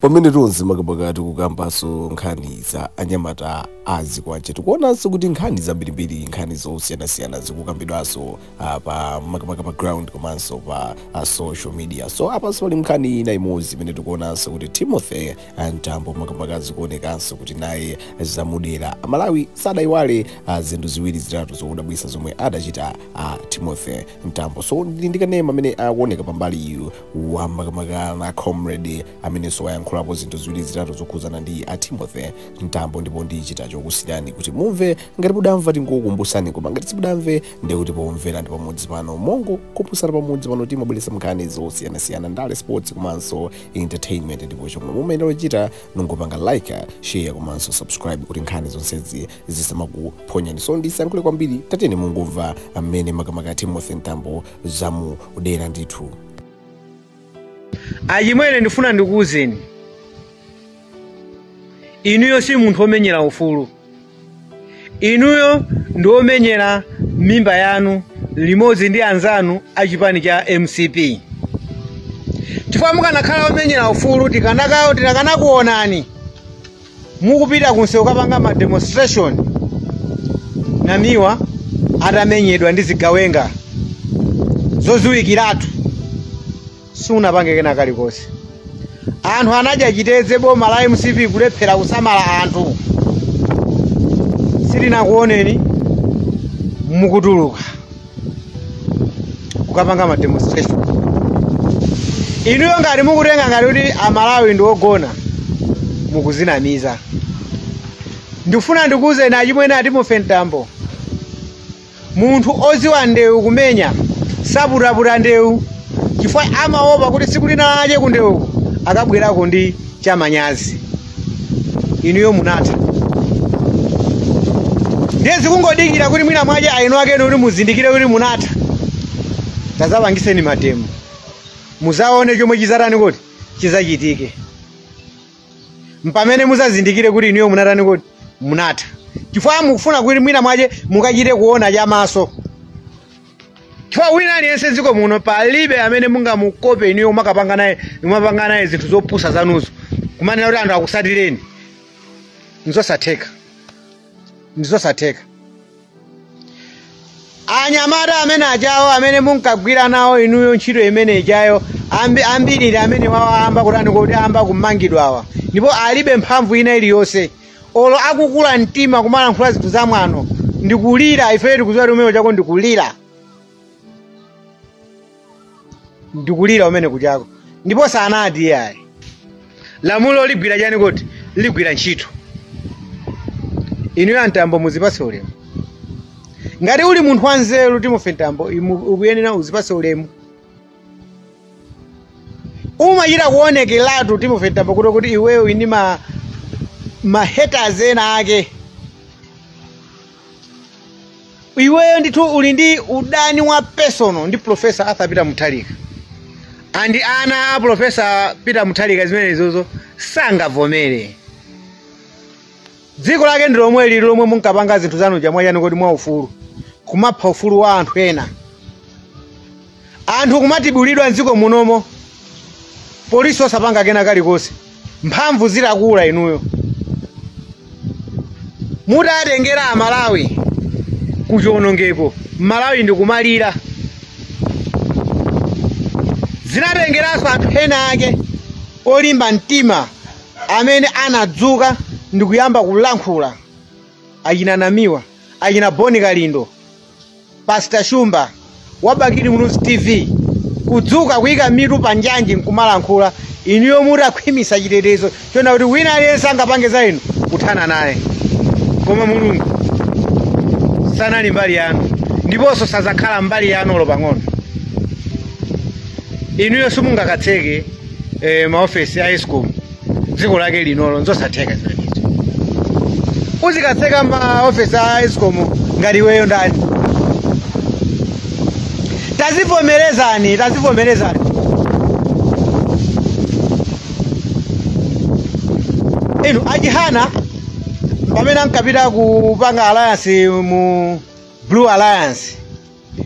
pamene tonse makamaka tikukambanso nkhani za anyamata a zikwanje tikuonanso kuti nkhani zambirimbiri nkhani zosiyanasiyana zikukambidwanso ah, pa makamaka pa ground komanso pa ah, social media so apanso pali nkhani ina imodzi imene tikuonanso kuti timothy ah, mtambo makamaka zikuonekanso kuti naye zamuwudira aMalawi sadayiwale ah, zinthu ziwiri zitatu zodabwitsa zomwe adachita ah, timothy mtambo so ndili ndi kanema amene akuoneka pambali iyo wa makamaka na comrade amenenso wayankhulapo zinthu ziwiri zitatu zokhudzana ndi a timothy mtambo ndipo ndichita chokusiyirani kuti mumve ngati mudamva tingokumbusani koma ngati simudamve ndiye kuti pomvera ndi pamodzi pano mongokumbusana pamodzi pano timabweretsa nkhani zosiyanasiyana ndale sports komanso entertainment ndipo chomwe mumayenera kuchita nungopanga like share komanso subscribe kuti nkhani zonsezi zisamakuphonyani so ndisayankhule kwambiri tatiyeni mungomva amene makamaka timothy mtambo zamuwudira ndithu achimwene ndifuna ndikuwuzeni inuyo si munthu womenyera ufulu inuyo ndi womenyera mimba yanu limodzi ndi anzanu a chipani cha mcp chifukwa mukanakhala womenyera ufulu tikanakawo tikanakuonani mukupita kunsewu kukapanga ma demonstration namiwa atamenyedwa ndi zigawenga zoziwikiratu siunapange kena kalikonse anthu anadya chitedze boma la mcp kulephera kusamala anthu sitinakuoneni mukutuluka kukapanga ma demonstration inuyo ngati mukutenga ngati kuti amalawi ndi ogona mukuzinamiza ndifuna ndikuwuzeni achimwene a timothy mtambo munthu oziwa ndewu kumenya saputaputa ndewu chifukwa amaopa kuti siku lina lache kundewu akabwerako ndi chamanyazi inuyo munatha ndiye zikungodikira kuti mwina mwache ainu akenu kuti muzindikire kuti munatha tazapangiseni mademo muzaone chomwe chizatani kuti chizachitike mpamene muzazindikire kuti inuyo munatani kuti munatha chifukwa mukufuna kuti mwina mwache mukachite kuona chamaso chifukwa wina aliyense m'dziko muno palibe amene mungamukope inuyo umakapanga naye umapanga naye zinthu zopusa zanuzo kumanena kuti anthu akusatireni ndizosatheka ndizosatheka anyamata amene ajawo amene munkagwira nawo inuyo ntchito imene ijayo ambi, ambiriri amene awa ayamba kutani kuti ayamba kumangidwawa ndipo alibe mphamvu ina iliyonse olo akukula mtima kumalankhula zinthu za mwano ndikulira ifeyo tikuziwa kuti kumene kuchako ndikulira ndikulira kumene kuchako ndipo simunati iyayi lamulo ligwira chani kuti ligwira ntchito inuyo a Mtambo muzipase ulemu ngati uli munthu wanzeru Timothy Mtambo imu- ukuyenera uzipase ulemu umachita kuonekeratu timothy mtambo kuti iweyo uli ndi ma hatred ena ake iweyo ndithu uli ndi udani wa personal ndi professor arthur peter mutharika ndiye ana a professor peter mutharika zimenezozo sangavomere dziko lake ndi lomweli ili lomwe munkapanga zinthu zanu cha mwa chani kuti mwa ufulu kumapha ufulu wa anthu ena anthu kumatibulidwa mdziko munomo polisi osapanga kena kalikonse mphamvu zitakula inuyo mutatengera amalawi kuchionongeko mmalawi ndikumalira zinatengeranso anthu ena ake olimba mtima amene anadzuka ndi kuyamba kulankhula achina namiwa achina bon kalindo pastor shumba a bakili muluzi tv kudzuka kuyika mitu pa njanji nkumalankhula inuyo mutakhwimisa chitetezo chona kuti wina aliyense angapange za inu kuthana naye koma mulungu sanali mbali yanu ndiponso sazakhala mbali yanu olo pang'ono inuyo simungakatseke eh, maofesi a escom dziko lake linolo nzosatheka zimenezo uzikatseka maofesi a escom ngati iweyo ndani tazivomerezani tazivomerezani enoch chihana pamene ankapita kupanga alliance mu blue alliance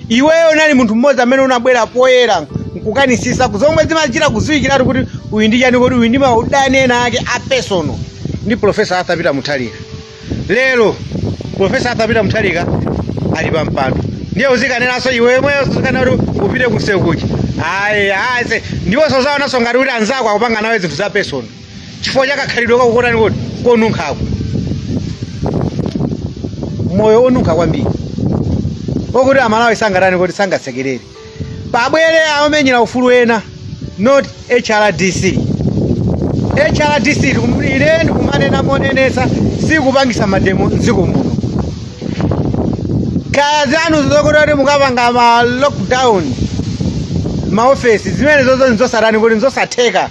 iweyo unali munthu mmodzi amene unabwera poyera nkukanisisa zomwe zimachita kudziwikiratu kuti uyu ndi chani kuti uyu ndi maudani ena ake a personal ndi profesa arthur peter mutharika lero profesa arthur peter mutharika ali pa mpando ndiye uzikanenanso iwe yemweyo uzikanena kuti upite kusewu kuti ayi ayi se ndipo usazaonenso ngati kuti anzako akupanga nawe zinthu za personal chifukwa cha kakhalidwe kako kotani kuti konunkhako moyo onunkha kwambiri okuti amalawi sangatani kuti sangasekerere pabwere aomenyera ufulu ena not hrdc hrdc ndikum- ine ndikumanena monenesa sikupangisa mademo mdziko muno kaya zanu zokuti kuti mukapanga ma lockdown maofesi zimenezozo nzosatani kuti nzosatheka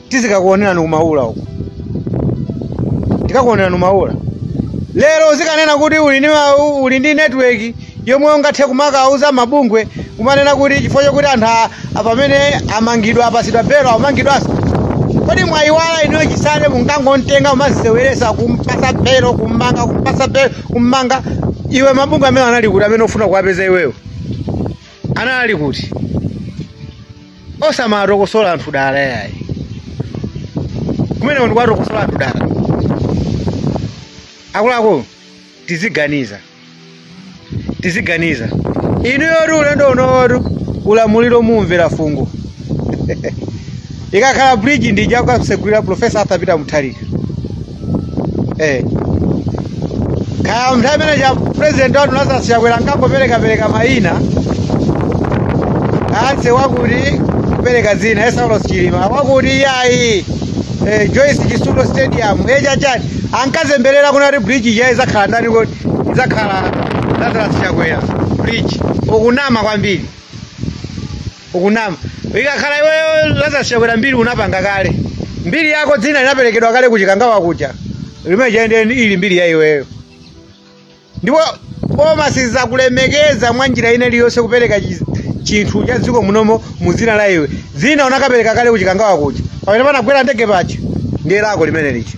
tizikakuonerani kumaula uko tikakuonerani kumaula lero uzikanena kuti uli ndi ma- u- uli ndi network yomwe ungathe kumakauza mabungwe kumanena kuti chifukwa choti anthu a- a- pamene amangidwa apasidwa belo amangidwanso kodi mwayiwala inuyo chisale munkangontenga kumamseweresa kumpasa belo kummanga kumpasa belo kummanga iwe mabungwe amene anali kuti amene ufuna kuwapeza iweyo anali kuti osamatokosola anthu dala yayi kumeneku ndi kwatokosola anthu dala akuluakulu tiziganiza tiziganiza inu yoti ulendo unowotu ulamuliro mumvera fungo ikakhala bridge ija akatsegulira profesa arthur peter mutharika eh kaya mnthawi imene ija president wanu lazarus chakwera ankangoperekapereka mayina anse wakuti kupereka zina la saulos chilima wakuti iyayi eh, joyce chitsulo stadium echachati ankazemberera kunena kuti bridge ija izakhala ndani kuti izakhala lazarus chakwera bridge ukunama kwambiri ukunama ikakhala iweyo lazarus chakwera mbiri unapanga kale mbiri yako dzina linaperekedwa kale kuchikangawa kuja limene lija nde ili mbiri ya iweyo ndipo boma sizakulemekeza mwa njira ina iliyonse kupereka chi- chinthu cha dziko munomo mu dzina la iwe dzina unakapereka kale kuchikangawa kuja pamene panagwera ndege paja ndiye lako limene lija